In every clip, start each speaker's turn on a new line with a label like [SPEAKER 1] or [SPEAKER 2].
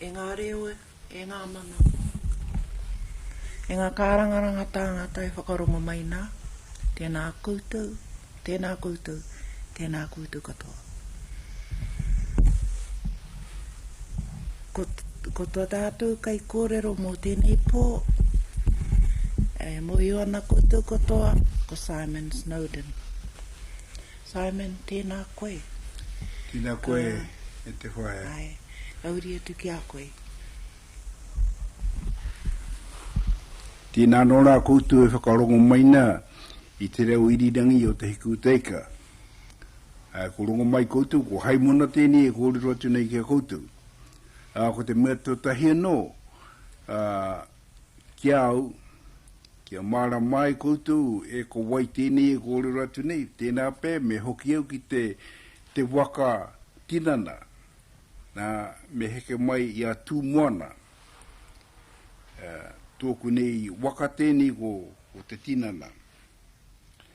[SPEAKER 1] E ngā reo, e ngā mana, e ngā kārangaranga tāngata e whakarongo mai nā, tēnā koutou, tēnā koutou, tēnā koutou katoa. Ko to tatou kai korero mo tenei po, e mohio ana koutou katoa, ko Simon Snowden. Simon, tena koe. Tena
[SPEAKER 2] koe, e te whaea. Ae, ka uri
[SPEAKER 1] atu ki a koe.
[SPEAKER 2] Tena no ra koutou e whakarongo mai na i te reo irirangi o Te Hikūteika. Ā, ko rongo mai koutou, ko Haimona tēnei e kōrero atu nei ki a koutou. Ā, ko te mea tuatahi anō, ā, ki a au, kia mārama ai koutou, e ko wai tēnei e kōrero atu nei, tēnā pea me hoki au ki te, te waka tinana, nā, me heke mai i a Tūmoana. Ā, tōku nei waka tēnei ko, ko te tinana.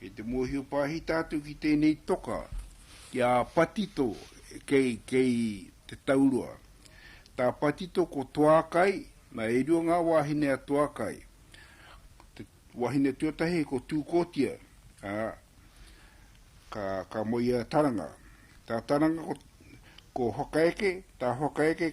[SPEAKER 2] Kei te mōhio pāhita atu ki tēnei toka, ki a Patito kei te taurua. Tā Patito ko Toakai, na e rua ngā wāhine a Toakai. Te wahine tuatahi ko Tūkotia, ā, ka moe i a Taranga. Tā Taranga ko Whakaeke, tā Whakaeke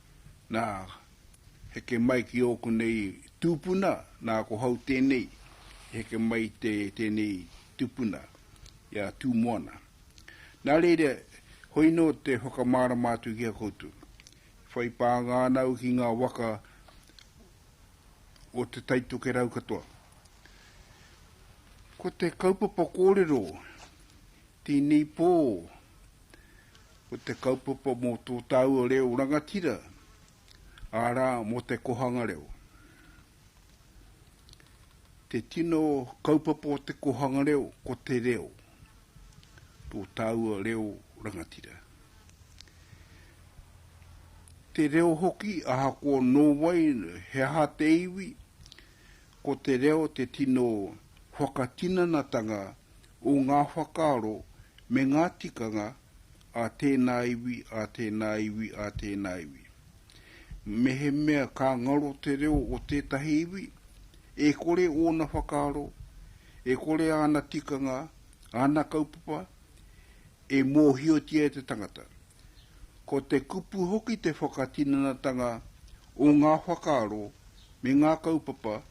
[SPEAKER 2] Nā, heke mai ki ō konei tūpuna, nā, ko hau tēnei i heke mai i te, tēnei tūpuna, i a Tūmoana. Nā reira, hoi nō te whakamārama atu ki a koutou. E whai pānga ana au ki ngā waka o Te Taitokerau katoa. Ko te kaupapa kōrero tēnei pō, Ko te kaupapa mō tō tāua reo rangatira, arā, mō te kōhanga reo. Te tino kaupapa o te kōhanga reo, ko te reo, tō tāua reo rangatira. Te reo hoki, ahakoa nō wai, he aha te iwi, ko te reo te tino whakatinanatanga o ngā whakaaro me ngā tikanga a tēnā iwi, a tēnā iwi, a tēnā iwi. Mehemea ka ngaro te reo o tētahi iwi, e kore ōna whakaaro, e kore āna tikanga, āna kaupapa, e mōhiotia e te tangata. Ko te kupu hoki te whakatinanatanga o ngā whakaaro me ngā kaupapa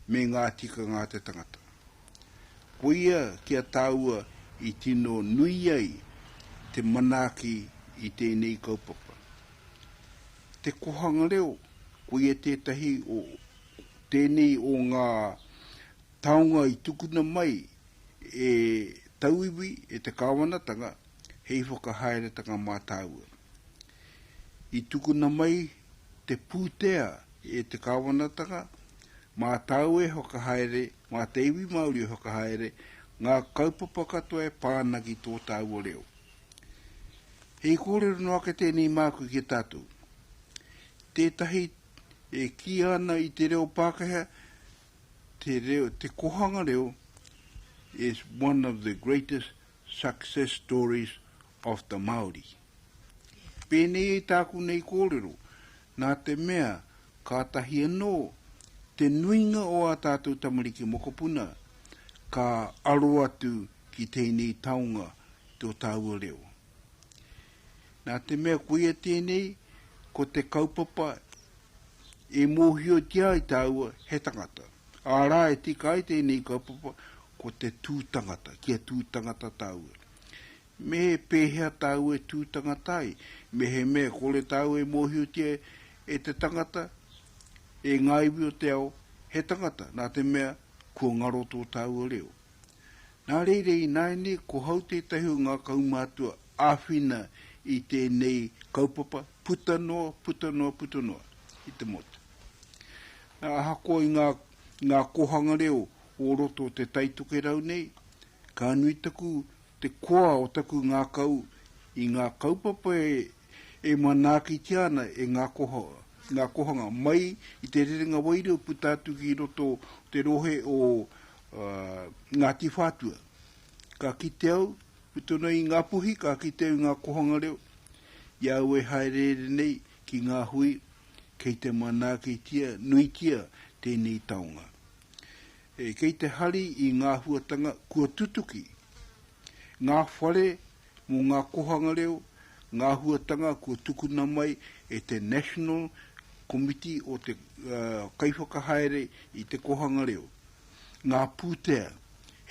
[SPEAKER 2] me ngā tikanga a te tangata. Koia ki a tāua i tino nui ai te manaaki i tēnei kaupapa. Te Kohanga Reo, koia tētahi o tēnei o ngā taonga i tukuna mai e tauiwi, e te kāwanatanga, hei whakahaeretanga mā tāua. I tukuna mai te pūtea e te kāwanatanga, mā tāua e whakahaere Mā te iwi Māori e whakahaere ngā kaupapa katoa e pā ana ki tō tāua reo. Hei kōrero noa ake tēnei māku ki a tātou. Tētahi e kīia ana i te reo Pākehā, te, reo, te kohanga reo is one of the greatest success stories of the Māori. Pēnei i tāku nei kōrero, nā te mea kātahi anō te nuinga o ā tātou tamariki mokopuna ka aro atu ki tēnei taonga ki tō tāua reo. Nā te mea koia tēnei, ko te kaupapa e mōhiotia ai tāua he tangata. Ārā e tika ai tēnei kaupapa, ko te tū tangata, kia tū tangata tāua. Me he pēhea tāu e tū tangata ai? Me he mea kore tāu e mōhiotia e te tangata, e ngā iwi o te ao, he tangata, nā te mea, kua ngaro tō tāua reo? Nā reira, ināianei, ko hau tētahi o ngā kaumātua āwhina i tēnei kaupapa, puta noa, puta noa, puta noa, i te motu. Nā, ahakoa i ngā, ngā kōhanga reo o roto o te Taitokerau nei, ka nui taku te koa o taku ngākau i ngā kaupapa e manaakitia ana e ngā koha, ngā kohanga, mai i te rerenga wairua puta atu ki roto o te rohe o Ngāti Whātua. Ka kite au, puta noa i Ngā Puhi, ka kite au i ngā kohanga reo, i au e hāereere nei ki ngā hui kei te manaakitia nuitia tēnei taonga. E kei te hari i ngā huatanga kua tutuki, ngā whare mō ngā kohanga reo, ngā huatanga kua tukuna mai e te National Komiti o te Kaiwhakahaere i te Kohanga Reo, ngā pūtea,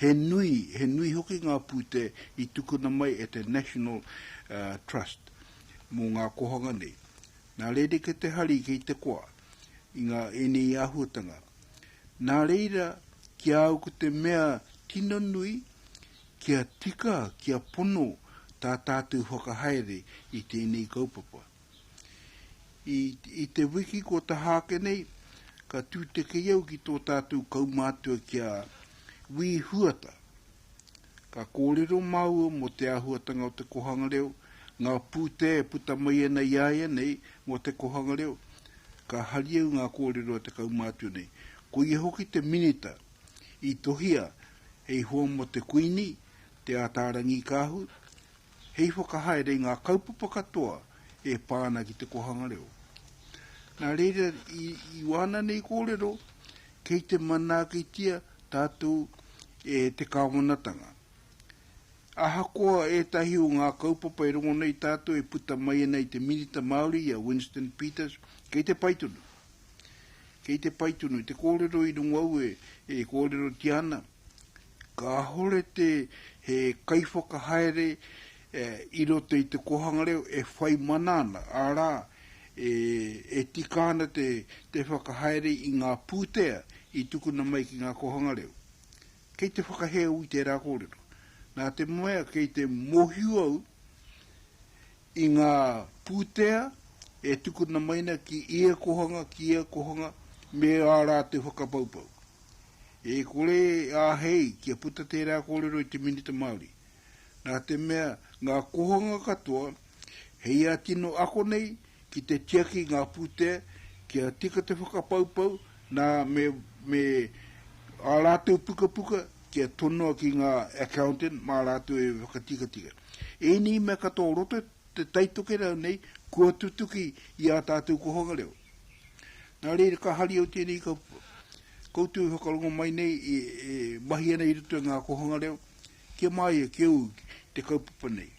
[SPEAKER 2] he nui, he nui hoki ngā pūtea i tukuna mai e te National Trust mō ngā kohanga nei. Nā rerekē te hari kei te koa i ngā ēnei āhuatanga. Nā reira, ki a au ko te mea tino nui, kia tika, kia pono tā tātou whakahaere i tēnei kaupapa. I, i te wiki kua taha ake nei, ka tūtekei au ki tō tātou kaumātua ki a Wī Huata, Ka kōrero māua mō te āhuatanga o te kōhanga reo, ngā pūtea e puta mai ana i a ia nei mō te kōhanga reo. Ka hari au ngā kōrero e 13 nei. Ko ia hoki te minita i tohia hei hoa mō te Kuini, Te Āta Rangikaahu, hei whakahaere i ngā kaupapa katoa e pā ana ki te kōhanga reo. Nā reira, i wāna nei kōrero, kei te manaakitia Tātou e te Kāwanatanga. Ahakoa ētahi o ngā kaupapa e rongo nei tātou e puta mai ana i te Minita Māori i a Winston Peters, kei te pai tonu. Kei te pai tonu. I te kōrero i rongo au e kōrerotia ana, kāore te he kaiwhakahaere i roto i te kōhanga reo e whai mana ana, arā, e tika ana te whakahaere i ngā pūtea i tukuna mai ki ngā kōhanga reo. Kei te whakahē au i tērā kōrero. Nā te mea kei te mōhio au i ngā pūtea e tukuna mai ana ki ia kōhanga, ki ia kōhanga, me ā rātou whakapaupau. E kore e āhei kia puta tērā kōrero i te Minita Māori. Nā te mea ngā kōhanga katoa he ia tino ako nei ki te tiaki i ngā pūtea kia tika te whakapaupau, nā, me, me ā rātou pukapuka kia tonoa ki ngā accountant mā rātou e whakatikatika. Ēnei mea katoa o roto te Tai Tokerau nei kua tutuki i ā tātou kōhanga reo. Nā reira ka hari au tēnei kaupapa. Koutou e whakarongo mai nei e, e mahi ana i roto i ngā kōhanga reo, Kia māia, kia ū te kaupapa nei.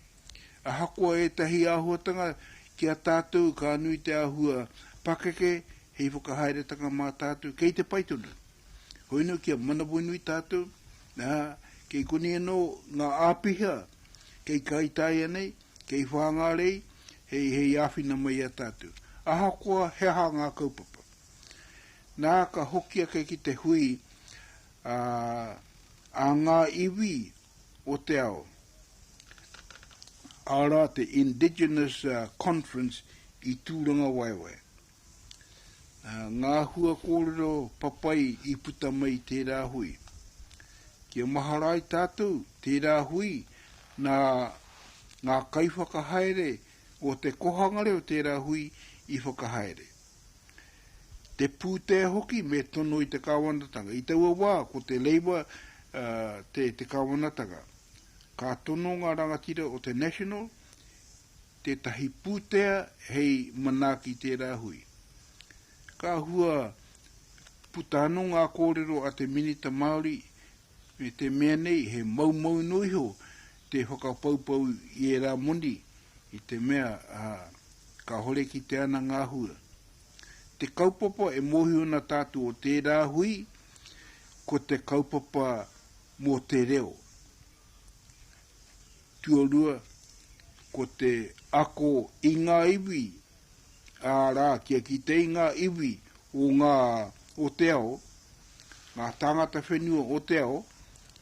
[SPEAKER 2] Ahakoa ētahi āhuatanga, ki a tātou ka nui te āhua pakeke hei whakahaeretanga mā tātou kei te pai tonu. Hoinu kia manawanui tātou, ā, kei konei anō ngā āpiha kei Kaitaia nei, kei Whāngārei hei, hei āwhina mai i a tātou, ahakoa he aha ngā kaupapa. Nā ka hoki ake ki te hui ā, a ngā iwi o te ao, arā te Indigenous Conference i Tūrangawaewae. Ngā hua kōrero papai i puta mai i tērā hui. Kia mahara ai tātou tērā hui nā ngā kaiwhakahaere o te kohanga reo tērā hui i whakahaere. te pūtea hoki me tono i te Kāwanatanga. I taua wā ko te Labour te Kāwanatanga. Ka tono ngā rangatira o te National tētahi pūtea hei manaaki i tērā hui. Ka hua puta anō ngā kōrero a te Minita Māori Me te mea nei he moumou noa iho te whakapoupou i ērā moni i te mea kāore kitea ana ngā hua. Te kaupapa e mōhio ana tātou o tērā hui ko te kaupapa mō te reo. Tuarua, ko te ako i ngā iwi ā rā, kia kite i ngā iwi o ngā, o te ao, ngā tāngata whenua o te ao,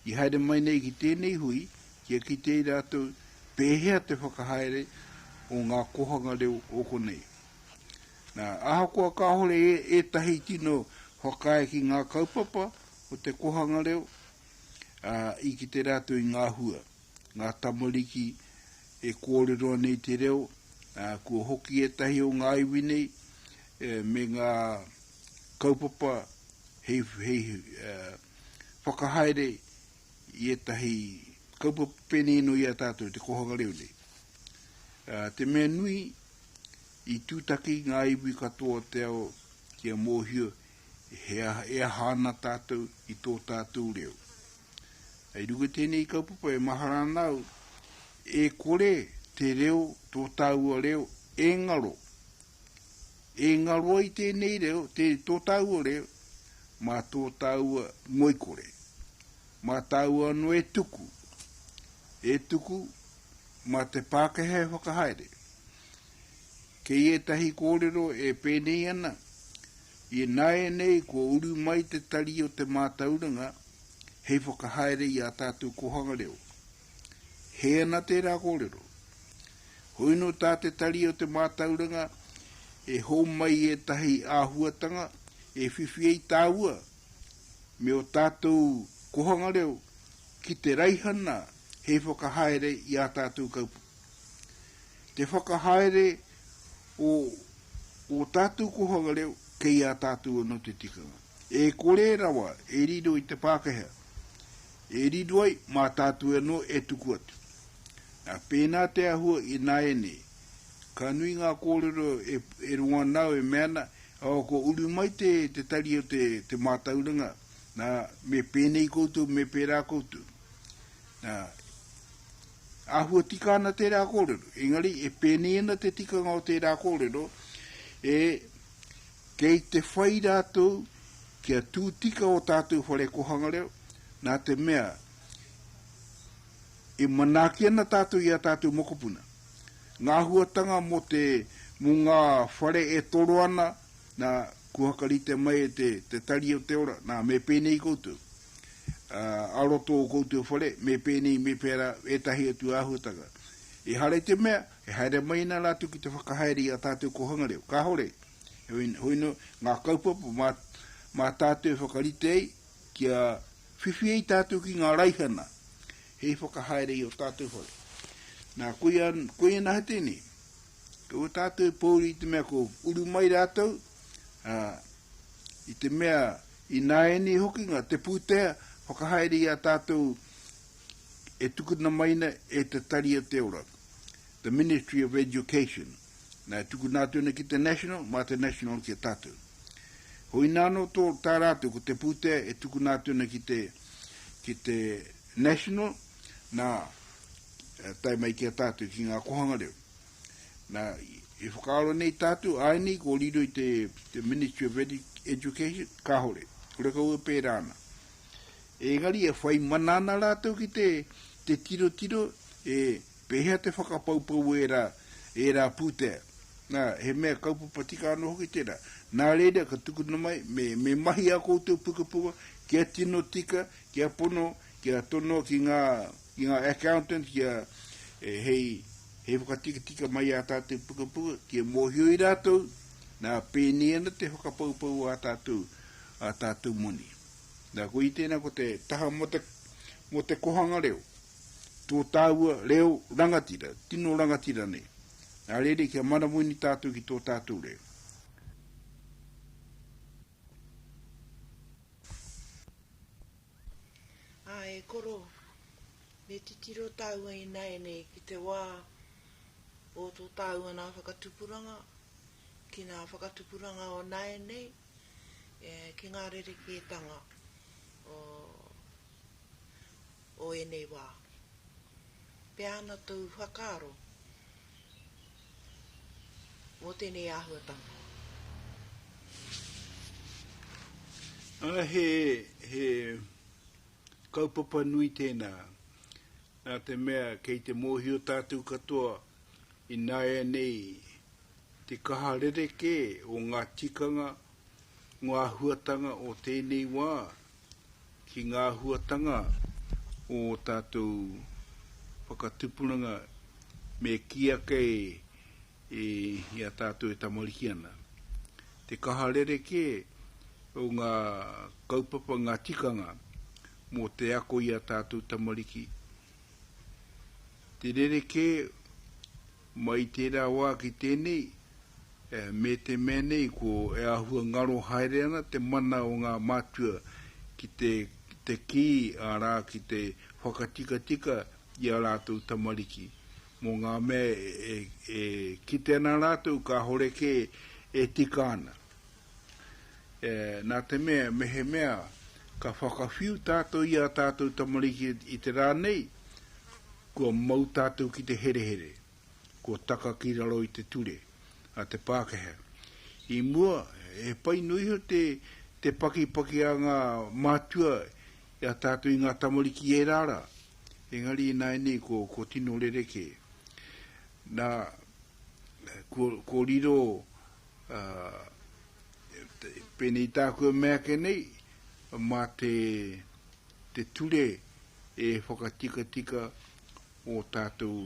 [SPEAKER 2] i haere mai nei ki tēnei hui, kia kite i rātou pēhea te whakahaere o ngā kōhanga reo o konei. Nā, ahakoa kāore ētahi tino whakaae ki ngā kaupapa o te kōhanga reo, ā, i kite rātou i ngā hua. ngā tamariki e kōrero ana i te reo, ā, kua hoki ētahi o ngā iwi nei me ngā kaupapa hei, hei whakahaere i ētahi kaupapa pēnei anō i a tātou, te kōhanga reo nei. Ā, te mea nui, i tūtaki ngā iwi katoa o te ao kia mōhio he aha, e aha ana tātou i tō tātou reo. Hei runga tēnei kaupapa e mahara ana au, e kore te reo, tō tāua reo, e ngaro. E ngaro ai tēnei reo, tē, tō tāua reo, mā tō tāua ngoikore. Mā tāua anō e tuku, e tuku, mā te Pākehā e whakahaere. Kei ētahi kōrero e pēnei ana, i nāianei kua uru mai te tari o te mātauranga hei whakahaere i ā tātou kōhanga reo. Hē ana tērā kōrero. Hoino tā te tari o te mātauranga e hōmai ētahi āhuatanga e whiwhi ai tāua me ō tātou kōhanga reo ki te raihana hei whakahaere i ā tātou kaupapa. te whakahaere o ō tātou kōhanga reo kei a tātou anō te tikanga. E kore rawa e riro i te Pākehā, e riro ai mā tātou anō e tuku atu. Nā, pēnā te āhua ināianei, ka nui ngā kōrero e rongo ana au e mea ana, oh, kua uru mai te tari o te mātauranga, nā, me pēnei koutou, me pērā koutou. Nā. Āhua tika ana tērā kōrero, engari e pēnei ana te tikanga o tērā kōrero, e, kei te whai rātou kia tū tika ō tātou whare kōhanga reo, nā te mea, e manaaki ana tātou i ā tātou mokopuna. Ngā āhuatanga mō te, mō ngā whare e toro ana, nā, kua whakarite mai e te, te Tari o te Ora, nā, me pēnei koutou. a roto o koutou whare, me pēnei, me pērā, ētahi atu āhuatanga. Ehara i te mea, e haere mai ana rātou ki te whakahaere i ā tātou kōhanga reo. Kāore. Heoi, hoi noa, ngā kaupapa mā, mā tātou e whakarite ai, kia whiwhi ai tātou ki ngā raihana, hei whakahaere i ō tātou whare. Nā, koia, koia nā he tēnei. Kaua tātou e pōuri i te mea ko uru mai rātou, ā, i te mea, Ināianei hoki nga te pūtea whakahaere i a tātou e tukuna mai ana e Te Tari o te Ora, the Ministry of Education, na e tukuna atu ana ki te National, ma te National ki a tātou. Hoina ano to tā rātou ko te pūtea e tukuna atu ana ki te ki te National, na tae mai ki a tātou ki nga kohanga reo. Nā, e whakaaro nei tātou, āinei ko riro i te, te Ministry of Education, kāore, kore kau e pērā ana. Engari e whai mana ana rātou ki te, te tirotiro, e, pēhea te whakapaupau ērā, ērā pūtea. Nā, he mea kaupapa tika anō hoki tērā. Nā reira, ka tukuna mai, me, me mahi ā koutou pukapuka kia tino tika, kia pono, kia tonoa ki ngā, ki ngā accountants kia, e, hei, He whakatikatika mai ā tātou pukapuka kia mōhio i rātou, nā, pēnei ana te whakapoupou ā tātou, ā tātou moni. Nā, koia tēnā ko te taha mō te, mō te kohanga reo, tō tāua reo rangatira, tino rangatira nei. Nā reira kia manawaini tātou ki tō tātou reo.
[SPEAKER 1] Ā, e koro, me titiro tāua ināianei ki te wā o tō tāua nā whakatupuranga, ki nā whakatupuranga o nāianei, e, ki ngā rerekētanga o, o ēnei wā. Pea ana tōu whakaaro, Mō tēnei āhuatanga.
[SPEAKER 2] He kaupapa nui tēnā, nā te mea kei te mōhio tātou katoa ināianei te kaha rerekē o ngā tikanga, ngā āhuatanga o tēnei wā ki ngā āhuatanga o ō tātou whakatupunanga me kī ake i a tātou e tamariki ana. Te kaha rerekē o ngā kaupapa, ngā tikanga mō te ako i a tātou tamariki, te rerekē Mai tērā wā ki tēnei, me te mea nei ko e āhua ngaro haere ana te mana o ngā mātua ki te kī, arā, ki te whakatikatika i ā rātou tamariki, mō ngā mea e kite ana rātou kāore kē e tika ana. nā te mea mehemea ka whakawhiu tātou i ā tātou tamariki i te rā nei, kua mau tātou ki te herehere, kua taka ki raro i te ture a te Pākehā. I mua, he pai noa iho te pakipaki a ngā mātua i a tātou i ngā tamariki ērā rā, engari ināianei kua tino rerekē. Nā, kua riro Ā, pēnei tāku e mea ake nei, mā te, te ture e whakatikatika ō tātou,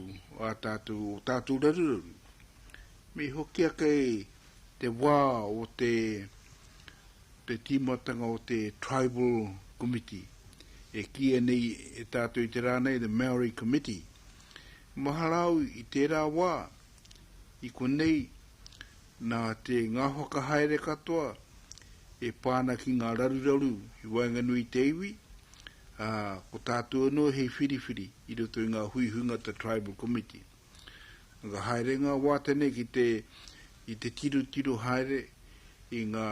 [SPEAKER 2] ā tātou, ō tātou raruraru. Me hokia kei te wā o te, te tīmatanga o te Tribal Committee, e kīia nei e tātou i te rā nei, the Māori Committee. Mahara au i tērā wā, I konei, nā te ngā whakahaere katoa e pā ana ki ngā raruraru i waenganui i te iwi, ā, ko tātou anō hei whiriwhiri i roto i ngā hui hungata Tribal Committee. Ka haere ngā wā tēnei ki te, i te tirotiro haere i ngā,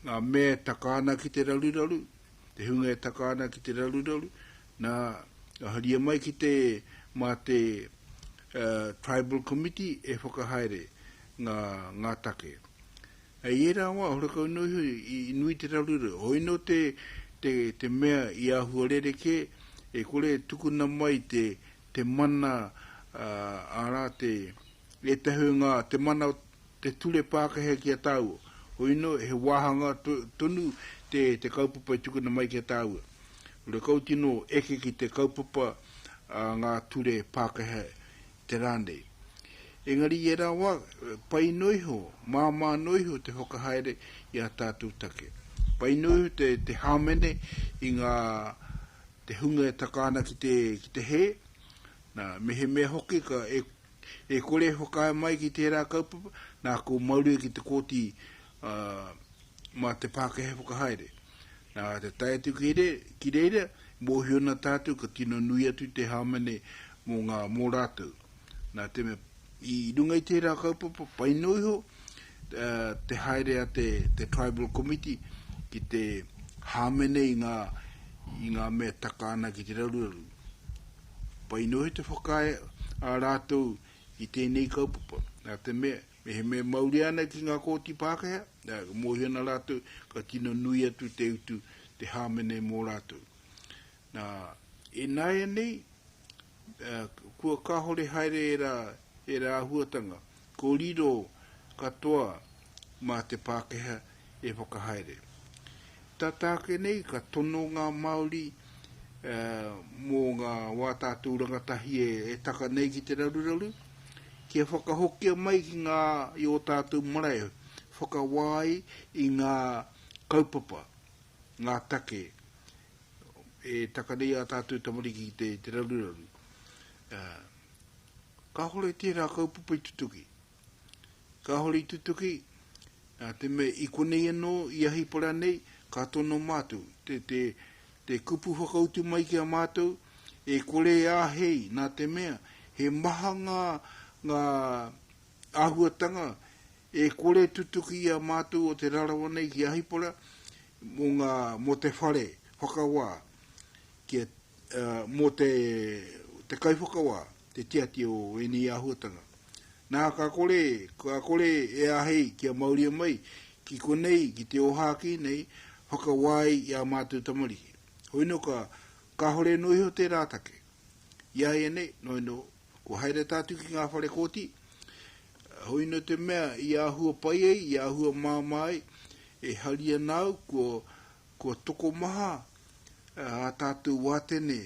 [SPEAKER 2] ngā mea e taka ana ki te raruraru, te hunga e taka ana ki te raruraru, Na, ka haria mai ki te, ma te Tribal Committee e whakahaere nga, nga take. Hei era wa, horekau no iho i nui te raru reo. Hoi no te, te, te mea i ahua rerekē, e kore e tukuna mai te, te mana a, ara te, etahi o nga, te mana o, Te Ture Pākehā ki a tāua. Hoino, he wāhanga tonu te te kaupapa i tukuna mai ki a tāua. Hurakau tino eke ki te kaupapa a ngā ture Pākehā i te rā nei. Engari i ērā wā, pai noa iho, māmā noa iho te whakahaere i ā tātou take. Pai noa iho te te hāmene i ngā te hunga e taka ana ki te ki te hē, nā, mehemea hoki ka e E kore e whakaae mai ki tērā kaupapa, nā, ko Mauri ki te Kōti mā te Pākehā whakahaere. Nā, te tae atu ki reira, e mōhio ana tātou ka tino nui atu te hāmene mō ngā, mō rātou. Nā te mea, i runga i tērā kaupapa, pai noa iho te haere a te Tribal Committee ki te hāmene i ngā, i ngā mea taka ana ki te raruraru. Pai noa te whakaae a rātou i tēnei kaupapa, nā te mea, mehemea mauria ana ki ngā kōti Pākehā, ā, ka mōhio ana rātou ka tino nui atu te utu, te hāmene mō rātou. Nā, ināianei, ā, kua kāore haere ērā, ērā āhuatanga, ko riro katoa mā te Pākehā E whakahaere. Tata ake nei ka tono ngā Māori mō ngā wā tātou rangatahi e taka nei ki te raruraru, kia whakahokia mai ki ngā i ō tātou marae e whakawā ai i ngā kaupapa, ngā take e taka nei ā tātou tamariki ki te raruraru. Kāhore tērā kaupapa i tutuki. Kāhore i tutuki, nā te mea i konei anō, i ahi para nei, ka tono mātou, te, te, te kupu whakautu mai ki a mātou, e kore e āhei, nā te mea, he maha ngā, ngā āhuatanga e kore e tutuki i a mātou o Te Rarawa nei ki Ahipara, mō ngā, mō te whare whakawā, kia, ā, mō te, te kaiwhakawā. te tiaki o ēnei āhuatanga. Nā, ka kore, ka kore e āhei kia mauria mai ki konei, ki te ōhākī nei, whakawā ai i ā mātou tamariki. Hoi nō ka, kāhore noa iho tērā take. I a ia nei, noi nō, kua haere tātou ki ngā whare kōti, hoi nō te mea i āhua pai ai, i āhua māmā ai, e hari ana au, kua, Kua tokomaha ā tātou wātene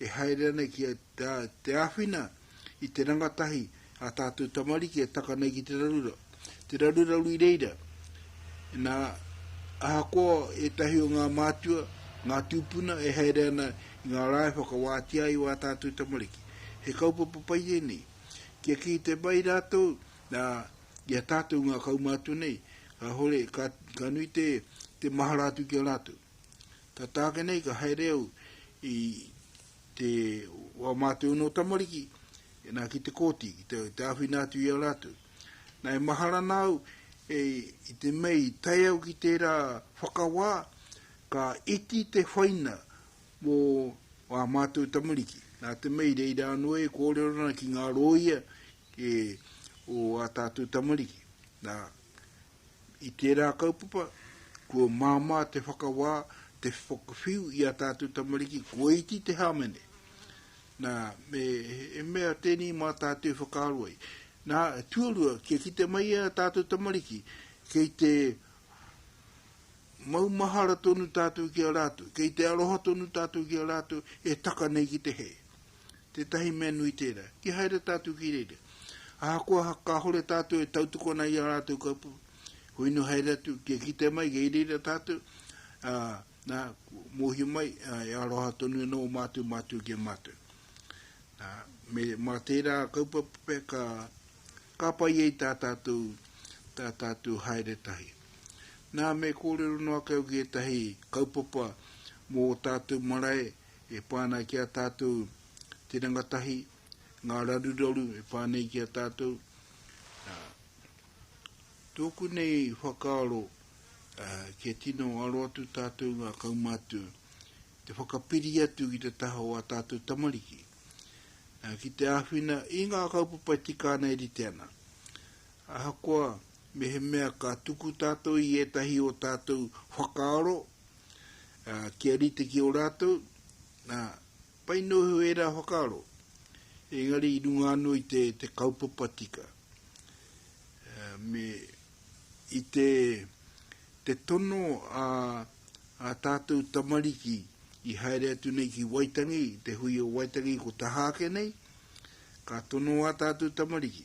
[SPEAKER 2] e haere ana ki te āwhina i te rangatahi ā tātou tamariki e taka nei ki te raruraru, te raruraru i reira. Nā, ahakoa ētahi o ngā mātua, ngā tūpuna e haere ana i ngā rā e whakawātea ai ā tātou tamariki, he kaupapa pai ēnei. Kia kī te pai rātou, i a tātou ngā kaumātua nei, kāhore, ka, ka nui te, te mahara atu ki a rātou. Tā tāke nei ka haere au i te wā mātou no tamariki, e nā ki te kōti, ki te, te āwhina atu i a rātou. Nā e mahara nāu, e, i te mei, tai au ki tērā whakawā, ka iti te whaina mō wā mātou tamariki. Nā te mei reira anō e kōrero ana ki ngā rōia, ki ō ā tātou tamariki. Nā, i tērā kaupapa, kua māmā te whakawā, te whakawhiu i ā tātou tamariki, kua iti te hāmene. Nā, me, he mea tēnei mā tātou i whakaaro ai. Nā, tuarua, kia kite mai ā tātou tamariki, kei te maumahara tonu tātou ki a rātou, kei te aroha tonu tātou ki a rātou, e taka nei ki te hē. Tētahi mea nui tērā, ki haere tātou ki reira. Ahakoa kāhore tātou e tautokona i ā rātou kaupapa, koe nō haere atu, kia kitea mai, kei reira tātou, ā, nā, mōhio mai, ā, e aroha tonu ana o mātou mātua ki a mātou. Nā, me, mā tērā kaupapa pea ka, ka pai ai tā tātou, tā tātou haere tahi. Nā, me kōrero noa ake au ki ētahi kaupapa mō tātou marae, E pā ana ki a tātou te rangatahi, ngā raruraru e pā nei ki a tātou. Nā, tōku nei whakaaro, kia tino aro atu tātou ngā kaumātua, te whakapiri atu ki te taha o a tātou tamariki, ki te āwhina i ngā kaupapa e tika ana e rite ana. Ahakoa, mehemea ka tuku tātou i ētahi o tātou whakaaro, ā, kia rite ki ō rātou, ā, pai noa iho ērā whakaaro, engari i runga anō i te, te kaupapa tika, ā, me, i te, te tono a, a tātou tamariki i haere atu nei ki Waitangi, te hui o Waitangi ko tahake nei, ka tono a tātou tamariki,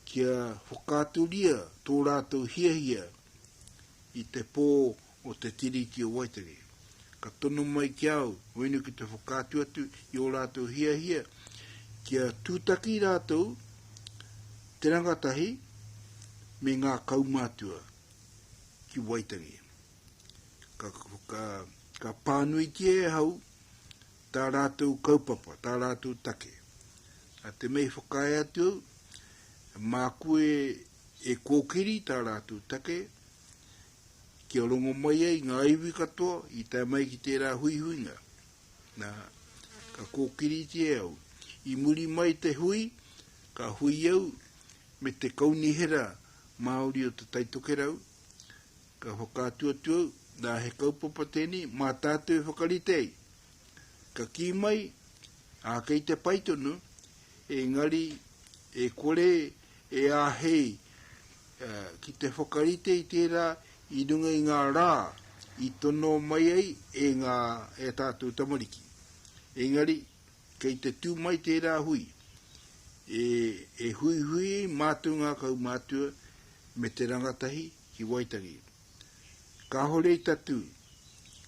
[SPEAKER 2] kia whakaaturia tō rātou hiahia i te pō o te Tiriti o Waitangi. Ka tono mai ki a au, hoinu ki te whakaatu atu i ō rātou hiahia, kia tūtaki rātou te rangatahi me ngā kaumātua ki Waitangi. Ka, ka, ka pānuitia e hau tā rātou kaupapa, tā rātou take. Nā te mea i whakaae atu au, māku e, e kōkiri tā rātou take, kia rongo mai ai ngā iwi katoa i tae mai ki tērā huihuinga. Nā, ka kōkiritia e au. I muri mai te hui, ka hui au me te kaunihera Māori o te Taitokerau, Ka whakaatu atu au, nā, he kaupapa tēnei mā tātou e whakarite ai. Ka kī mai, ā, kei te pai tonu, engari e kore e āhei ki te whakarite i tērā i runga i ngā rā i tono mai ai e ngā, e ā tātou tamariki. Engari, kei te tū mai tērā hui, e, e huihui ai mātou ngā kaumātua me te rangatahi, ki Waitangi. Kāhore i tatū,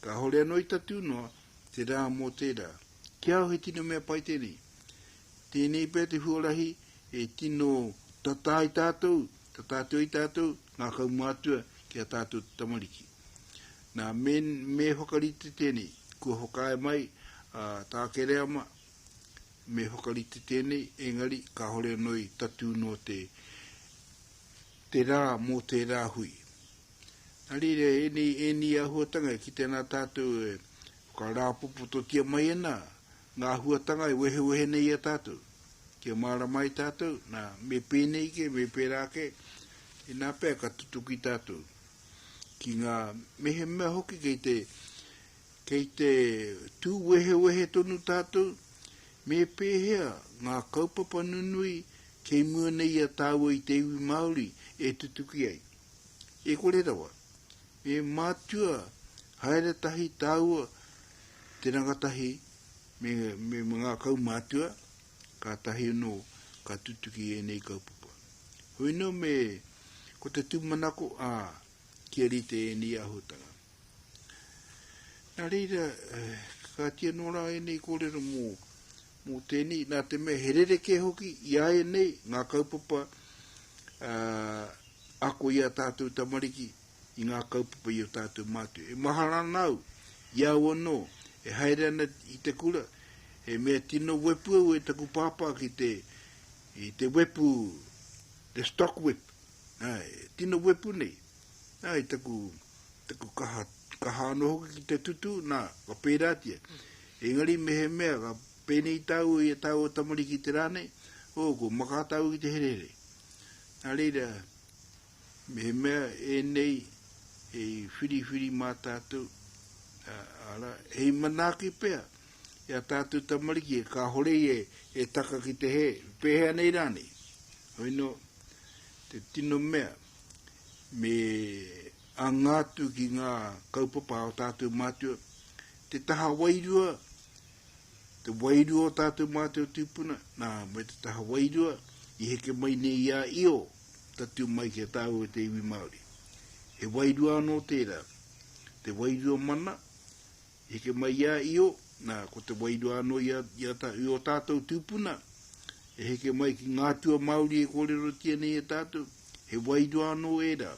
[SPEAKER 2] kāhore anō i tatū noa, te rā mō tērā. Ki a au he tino mea pai tēnei. Tēnei pea te huarahi e tino tata ai tātou, tata atu ai tātou, ngā kaumātua ki a tātou te tamariki. Nā, me, me whakarite tēnei, kua whakaae mai a tā Kereama, me whakarite tēnei, engari kāhore anō i tatū noa te, te rā mō tērā hui. Nā reira, ēnei, ēnei āhuatanga e kitea nā tātou e whakarāpopototia mai ana ngā āhuatanga e wehewehe nei i a tātou, kia mārama ai tātou, nā, me pēnei kē, me pērā kē, inā pea ka tutuki tātou ki ngā mehemea hoki kei te, kei te tū wehewehe tonu tātou, me pēhea ngā kaupapa nunui Kei mua nei a tāua i te iwi Māori e tutuki ai. E kore rawa, me mātua haere tahi tāua, te rangatahi me, me ngā kaumātua, kātahi anō ka tutuki ēnei kaupapa. Hoi nō me, ko te tūmanako, ā, kia rite ēnei āhuatanga. Nā reira, kakatia nō rā ēnei kōrero mō, mō tēnei, nā te mea he rerekē hoki i a ēnei ngā kaupapa ako i a tātou tamariki i ngā kaupapa i o tātou mātua. E mahara ana au i au anō e haere ana i te kura, he mea tino wepu au e taku pāpā ki te, i te wepu, the stock whip, tino wepu nei, Nā, i taku, taku kaha, kaha anō hoki ki te tutu, nā, ka pērātia. Engari mehemea, ka pēnei tāu i a tāu o tamariki te rā nei, o, ko makā tāu ki te herehere. Nā reira, mehemea e nei, e whiriwhiri mā tātou, ara, hei manaaki pea, e a tātou tamariki, e kā hore e, e taka ki te he, pēhea nei rānei. Hoi no, te tino mea, me anga atu ki ngā kaupapa o tātou mātua, te taha wairua, te wairua o tātou mātua tūpuna, nā, me te taha wairua, i heke mai nei i a io, tatu mai ki a tāu e te iwi Māori. He wairua anō tērā, te wairua mana, I heke mai i a Io, na, ko te wairua ano i a, i a ta, i o tatou tupuna, e heke mai ki nga atua Maori e korerotia nei e tatou, he wairua ano era,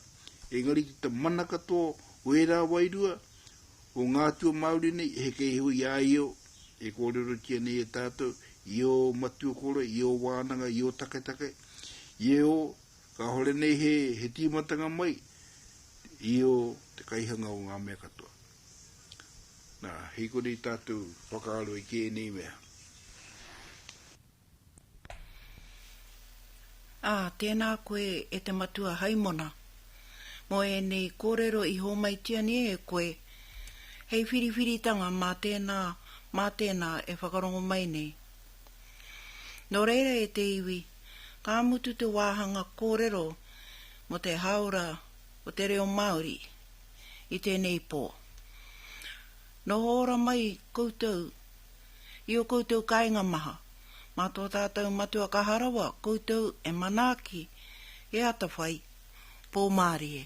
[SPEAKER 2] engari ki ta mana katoa o era wairua, o nga atua Maori nei, e heke iho i a Io, e korerotia nei e tatou, i o matua kore, i o wananga, i o taketake, i e o, kahore nei he, he timatanga mai, i o te kaihanga o nga mea katoa. Na, hikori tatu whakaaro i keenei mea.
[SPEAKER 1] A, teena koe e te Matua Haimona, mo eenei koorero i hoomaitia nei e koe, hei whiriwhiritanga maa teena, maa teena e whakarongo mai nei. No reira e te iwi, ka mutu te waahanga koorero mo te haaora o te reo Maaori. i tēnei pō. Noho ora mai koutou i ō koutou kāinga maha, mā tō tātou Matua Kaha Rawa koutou e manaaki, e atawhai, pōmārie.